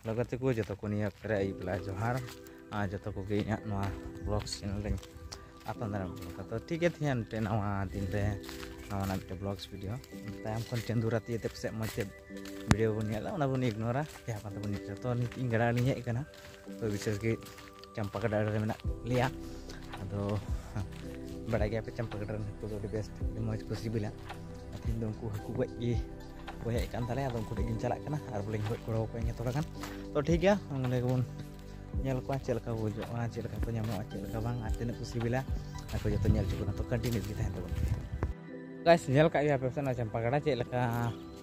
hello ᱜᱟᱛᱮ ᱠᱚ ᱡᱚᱛᱚ ᱠᱚ ᱱᱤᱭᱟᱹ ᱚᱠᱛᱚ ᱨᱮ ᱟᱹᱭᱩᱵ ᱵᱮᱞᱟ ᱡᱚᱦᱟᱨ ᱟᱨ ᱡᱚᱛᱚ ᱠᱚᱜᱮ ᱤᱧᱟᱹᱜ ᱱᱚᱣᱟ ᱵᱞᱚᱜ ᱪᱮᱱᱮᱞ ᱨᱮᱧ ᱟᱯᱱᱟᱨ ᱫᱟᱨᱟᱢ ᱠᱚ ᱠᱟᱛᱚ ᱴᱷᱤᱠ ᱜᱮᱭᱟ ᱛᱮᱦᱮᱧ ᱢᱤᱫᱴᱮᱱ ᱱᱟᱣᱟ ᱫᱤᱱ ᱨᱮ ᱱᱟᱣᱟᱱᱟᱜ ᱢᱤᱫᱴᱮᱱ ᱵᱞᱚᱜᱥ ᱵᱷᱤᱰᱤᱭᱳ ᱛᱟᱭᱚᱢ ᱠᱷᱚᱱ ᱪᱟᱸᱫᱩ ᱨᱟᱛᱤ ᱛᱮ ᱯᱟᱥᱮᱡ ᱢᱚᱡᱽ ᱛᱮ ᱵᱷᱤᱰᱤᱭᱳ ᱵᱚᱱ ᱧᱮᱞᱟ ᱚᱱᱟ ᱵᱚᱱ ᱤᱜᱱᱳᱨᱟ ᱡᱟᱦᱟᱸ ᱠᱟᱛᱮ ᱵᱚᱱ ᱧᱮᱞᱟ ᱛᱚ ᱱᱤᱛ ᱤᱧ ᱜᱟᱰᱟ ᱟᱲᱮᱧ ᱦᱮᱡ ᱟᱠᱟᱱᱟ ᱛᱚ ᱵᱤᱥᱮᱥ ᱜᱮ ᱪᱟᱢᱯᱟ ᱜᱟᱰᱟ ᱨᱮ ᱢᱮᱱᱟᱜ ᱞᱮᱭᱟ ᱟᱫᱚ ᱵᱟᱲᱟᱭ ᱜᱮᱭᱟ ᱯᱮ ᱪᱟᱢᱯᱟ ᱜᱟᱰᱟ ᱨᱮᱱ ᱦᱟᱹᱠᱩ ᱫᱚ ᱟᱹᱰᱤ ᱵᱮᱥᱴ ᱟᱹᱰᱤ ᱢᱚᱡᱽ ᱠᱚ ᱥᱤᱵᱤᱞᱟ ᱛᱮᱦᱮᱧ ᱫᱚ ᱩᱱᱠᱩ ᱦᱟᱹᱠᱩ ᱜᱚᱡ ᱜᱮ ᱠᱚ ᱦᱮᱡ ᱠᱟᱱ ᱛᱟᱞᱮᱭᱟ ᱟᱫᱚ ᱩᱱᱠᱩ ᱴᱷᱮᱡ ᱜᱤᱧ ᱪᱟᱞᱟᱜ ᱠᱟᱱᱟ ᱟᱨ ᱵᱚᱞᱮᱧ ᱜᱚᱡ ᱜᱚᱲᱚ ᱟᱠᱚᱣᱟ ᱤᱧ ᱛᱷᱚᱲᱟ ᱜᱟᱱ ᱛᱚ ᱴᱷᱤᱠ ᱜᱮᱭᱟ ᱚᱸᱰᱮ ᱜᱮᱵᱚᱱ ᱧᱮᱞ ᱠᱚᱣᱟ ᱪᱮᱫ ᱞᱮᱠᱟ ᱠᱚ ᱜᱚᱡᱚᱜᱼᱟ ᱪᱮᱫ ᱞᱮᱠᱟ ᱠᱚ ᱧᱟᱢᱚᱜᱼᱟ ᱪᱮᱫ ᱞᱮᱠᱟ ᱵᱟᱝ ᱟᱨ ᱛᱤᱱᱟᱹᱜ ᱠᱚ ᱥᱤᱵᱤᱞᱟ ᱟᱨ ᱠᱚ ᱡᱚᱛᱚ ᱧᱮᱞ ᱦᱚᱪᱚ ᱵᱚᱱᱟ ᱛᱚ ᱠᱚᱱᱴᱤᱱᱤᱭᱩ ᱜᱮ ᱛᱟᱦᱮᱱ ᱛᱟᱵᱚᱱᱟ ᱜᱟᱭᱥ ᱧᱮᱞ ᱠᱟᱜ ᱜᱮᱭᱟ ᱯᱮ ᱥᱮ ᱱᱚᱣᱟ ᱪᱟᱢᱯᱟ ᱜᱟᱰᱟ ᱪᱮᱫ ᱞᱮᱠᱟ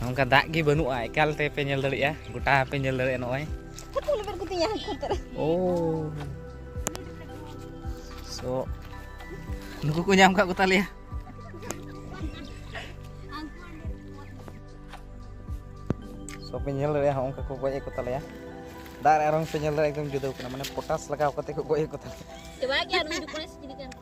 ᱱᱚᱝᱠᱟ ᱫᱟᱜ ᱜᱮ ᱵᱟᱹᱱᱩᱜᱼᱟ ᱮᱠᱟᱞ ᱛᱮ ᱯᱮ ᱧᱮᱞ ᱫᱟᱲᱮᱭᱟᱜᱼᱟ ᱜᱚᱴᱟ ᱯᱮ ᱧᱮᱞ ᱫᱟᱲᱮᱭᱟᱜᱼᱟ ᱱᱚᱜᱼᱚᱭ ᱳ ᱥᱚ ᱱᱩᱠᱩ ᱠᱚ ᱧᱟᱢ ᱠᱟᱜ ᱠᱚᱛᱟᱞᱮᱭᱟ ᱥᱚ ᱯᱮ ᱧᱮᱞ ᱫᱟᱲᱮᱭᱟᱜᱼᱟ ᱦᱚᱸ ᱚᱱᱠᱟ ᱠᱚ ᱜᱚᱡ ᱮᱫ ᱠᱚᱛᱟᱞᱮᱭᱟ ᱫᱟᱜ ᱨᱮ ᱟᱨᱚᱝ ᱯᱮ ᱧᱮᱞ ᱫᱟᱲᱮᱭᱟᱜᱼᱟ ᱮᱠᱫᱚᱢ ᱡᱩᱫᱟᱹ ᱠᱟᱱᱟ ᱢᱟᱱᱮ ᱯᱚᱴᱟᱥ ᱞᱟᱜᱟᱣ ᱠᱟᱛᱮ ᱠᱚ ᱜᱚᱡ ᱮᱫ ᱠᱚᱛᱟᱞᱮᱭᱟ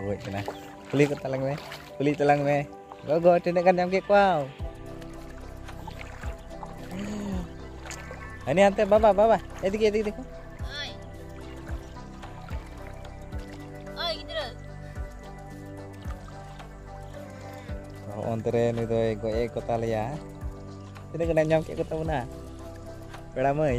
ᱜᱚᱡ ᱠᱟᱱᱟ ᱠᱩᱞᱤ ᱠᱚ ᱛᱟᱞᱟᱝ ᱢᱮ ᱠᱩᱞᱤ ᱛᱟᱞᱟᱝ ᱢᱮ ᱜᱚᱜᱚ ᱛᱤᱱᱟᱹᱜ ᱜᱟᱱ ᱧᱟᱢ ᱠᱮᱫ ᱠᱚᱣᱟ ᱦᱟᱹᱱᱤ ᱦᱟᱱᱛᱮ ᱵᱟᱵᱟ ᱵᱟᱵᱟ ᱮᱫᱤᱠ ᱮᱫᱤᱠ ᱫᱮᱠᱷᱚ ᱚᱱᱛᱮ ᱨᱮ ᱱᱩᱭ ᱫᱚᱭ ᱜᱚᱡ ᱮ ᱠᱚ ᱛᱟᱞᱮᱭᱟ ᱛᱤᱱᱟᱹᱜ ᱜᱟᱱ ᱧᱟᱢ ᱠᱮᱫ ᱠᱚ ᱛᱟᱵᱚᱱᱟ ᱯᱮᱲᱟ ᱢᱟᱹᱭ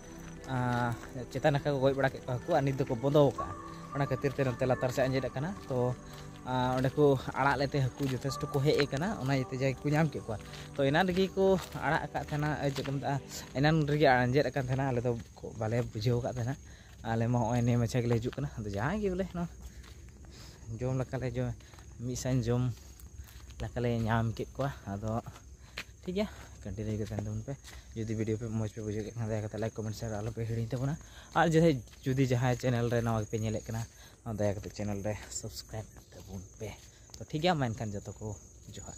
ᱪᱮᱛᱟᱱ ᱱᱟᱠᱷᱟ ᱠᱚ ᱜᱚᱡ ᱵᱟᱲᱟ ᱠᱮᱫ ᱠᱚᱣᱟ ᱦᱟᱹᱠᱩ ᱟᱨ ᱱᱤᱛ ᱫᱚᱠᱚ ᱵᱚᱱᱫᱚ ᱟᱠᱟᱫᱼᱟ ᱚᱱᱟ ᱠᱷᱟᱹᱛᱤᱨ ᱛᱮ ᱱᱚᱛᱮ ᱞᱟᱛᱟᱨ ᱥᱮᱫ ᱟᱸᱡᱮᱫ ᱟᱠᱟᱱᱟ ᱛᱚ ᱚᱸᱰᱮ ᱠᱚ ᱟᱲᱟᱜ ᱞᱮᱛᱮ ᱦᱟᱹᱠᱩ ᱡᱚᱛᱷᱮᱥᱴᱚ ᱠᱚ ᱦᱮᱡ ᱟᱠᱟᱱᱟ ᱚᱱᱟ ᱤᱭᱟᱹᱛᱮ ᱡᱟᱭᱜᱟ ᱠᱚ ᱧᱟᱢ ᱠᱮᱫ ᱠᱚᱣᱟ ᱛᱚ ᱮᱱᱟᱱ ᱨᱮᱜᱮ ᱠᱚ ᱟᱲᱟᱜ ᱟᱠᱟᱫ ᱛᱟᱦᱮᱱᱟ ᱪᱮᱫ ᱠᱚ ᱢᱮᱛᱟᱜᱼᱟ ᱮᱱᱟᱱ ᱨᱮᱜᱮ ᱟᱸᱡᱮᱫ ᱟᱠᱟᱱ ᱛᱟᱦᱮᱱᱟ ᱟᱞᱮ ᱫᱚ ᱵᱟᱞᱮ ᱵᱩᱡᱷᱟᱹᱣ ᱟᱠᱟᱫ ᱛᱟᱦᱮᱱᱟ ᱟᱞᱮ ᱢᱟ ᱱᱚᱜᱼᱚᱭ ᱱᱤᱭᱟᱹ ᱢᱟᱪᱷᱟ ᱜᱮᱞᱮ ᱦᱤᱡᱩᱜ ᱠᱟᱱᱟ ᱟᱫᱚ ᱡᱟᱦᱟᱸᱭ ᱜᱮ ᱵᱚᱞᱮ ᱱᱚᱣᱟ ᱡᱚᱢ ᱞᱮᱠᱟᱞᱮ ᱡᱚᱢ ᱢᱤᱫ ᱥᱟᱝ ᱡᱚᱢ ᱞᱮᱠᱟᱞᱮ ᱧᱟᱢ ᱠᱮᱫ ᱠᱚᱣᱟ ᱟᱫᱚ ᱴᱷᱤᱠ ᱜᱮᱭᱟ ᱠᱟᱹᱴᱤᱡ ᱞᱟᱹᱭ ᱠᱟᱛᱮ ᱛᱟᱵᱚᱱ ᱯᱮ ᱡᱩᱫᱤ ᱵᱷᱤᱰᱤᱭᱳ ᱯᱮ ᱢᱚᱡᱽ ᱯᱮ ᱵᱩᱡᱷᱟᱹᱣ ᱠᱮᱫ ᱠᱷᱟᱱ ᱫᱟᱭᱟ ᱠᱟᱛᱮ ᱞᱟᱭᱤᱠ ᱠᱚᱢᱮᱱᱴ ᱥᱮᱭᱟᱨ ᱟᱞᱚ ᱯᱮ ᱦᱤᱲᱤᱧ ᱛᱟᱵᱚᱱᱟ ᱟᱨ ᱡᱟᱦᱟᱸᱭ ᱡᱩᱫᱤ ᱡᱟᱦᱟᱸᱭ ᱪᱮᱱᱮᱞ ᱨᱮ ᱱᱟᱣᱟ ᱜᱮᱯᱮ ᱧᱮᱞᱮᱫ ᱠᱟᱱᱟ ᱫᱟᱭᱟ ᱠᱟᱛᱮ ᱪᱮᱱᱮᱞ ᱨᱮ ᱥᱟᱵᱥᱠᱨᱟᱭᱤᱵ ᱛᱟᱵᱚᱱ ᱯᱮ ᱛᱚ ᱴᱷᱤᱠ ᱜᱮᱭᱟ ᱢᱟ ᱮᱱᱠᱷᱟᱱ ᱡᱚᱛᱚ ᱠᱚ ᱡᱚᱦᱟᱨ